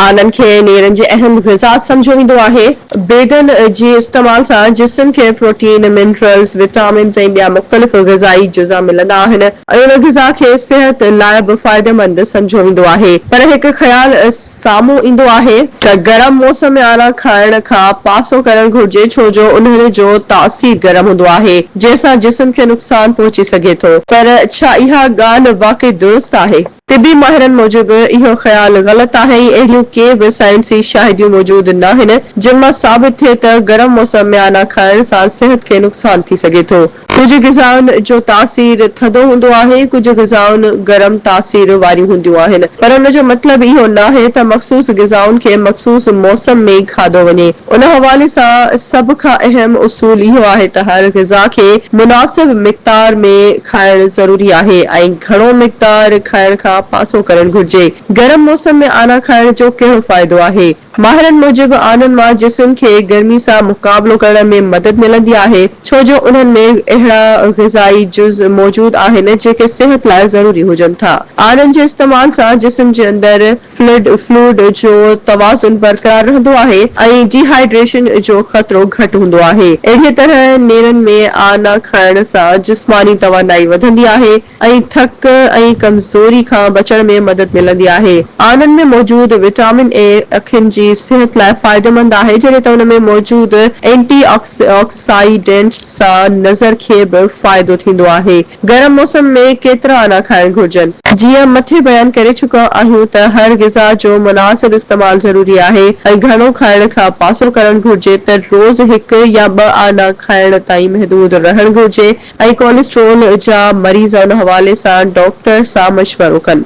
آنن کي نيرن جي اهم غذا سمجهيو ويندو آهي. بيدن جي استعمال سان جسم کي پروٽين، منرلز، وٽامنز ۽ ٻيا مختلف غذائي جزا ملندا آهن. ان غذا کي صحت لاء به فائديمند سمجهيو ويندو آهي. پر هڪ خيال سامهون ايندو آهي ته گرم موسم ۾ آنا کائڻ کان پاسو ڪرڻ گهرجي ڇو جو انهن جو تاثير گرم هوندو آهي جنهن سان جسم کي نقصان پهچي سگهي ٿو. پر ڇا اها ڳالهه واقعي درست آهي؟ طبي ماهرن موجب اهو خيال غلط آهي ۽ اهڙيون ڪي به سائنسي شاهديون موجود ناهن جن مان ثابت ٿئي ته گرم موسم ۾ آنا کائڻ سان صحت کي نقصان ٿي سگهي ٿو. ڪجهه غذائن جو تاثير ٿڌو هوندو آهي، ڪجهه غذائن گرم تاثير واريون هونديون آهن، پر ان جو مطلب اهو ناهي ته مخصوص غذائن کي مخصوص موسم ۾ ئي کاڌو وڃي. ان حوالي سان سڀ کان اهم اصول اهو آهي ته هر غذا کي مناسب مقدار ۾ کائڻ ضروري آهي ۽ گهڻو مقدار کائڻ کان پاسو ڪرڻ گهرجي. گرم موسم ۾ آنا کائڻ جو ڪهڙو فائدو آهي؟ ماهرن موجب آنن مان جسم کي گرمي سان مقابلو ڪرڻ ۾ مدد ملندي آهي ڇو جو انهن ۾ اهڙا غذائي جز موجود آهن جيڪي صحت لاء ضروري هجن ٿا. آنن جي استعمال سان جسم جي اندر فلڊ Fluid جو توازن برقرار رهندو آهي ۽ ڊي هائيڊريشن جو خطرو گهٽ هوندو آهي. اهڙيء طرح نيرن ۾ آء نه کائڻ سان جسماني توانائي وڌندي آهي ۽ ٿڪ ۽ ڪمزوري کان بچڻ ۾ مدد ملندي آهي. آنن ۾ موجود وٽامن اي اکين جي صحت لاء فائديمند آهي جڏهن ته ان ۾ موجود اينٽي آڪسائيڊنٽس سان نظر کي به فائدو ٿيندو آهي. گرم موسم ۾ ڪيترا انا کائڻ گهرجن؟ جيئن مٿي بيان ڪري چڪا آهيون ته هر غذا جو مناسب استعمال ضروري آهي ۽ گهڻو کائڻ کان پاسو ڪرڻ گهرجي ته روز هڪ يا ٻه انا کائڻ تائين محدود رهڻ گهرجي ۽ ڪوليسٽرول جا مريض ان حوالي سان ڊاڪٽر سان مشورو ڪن.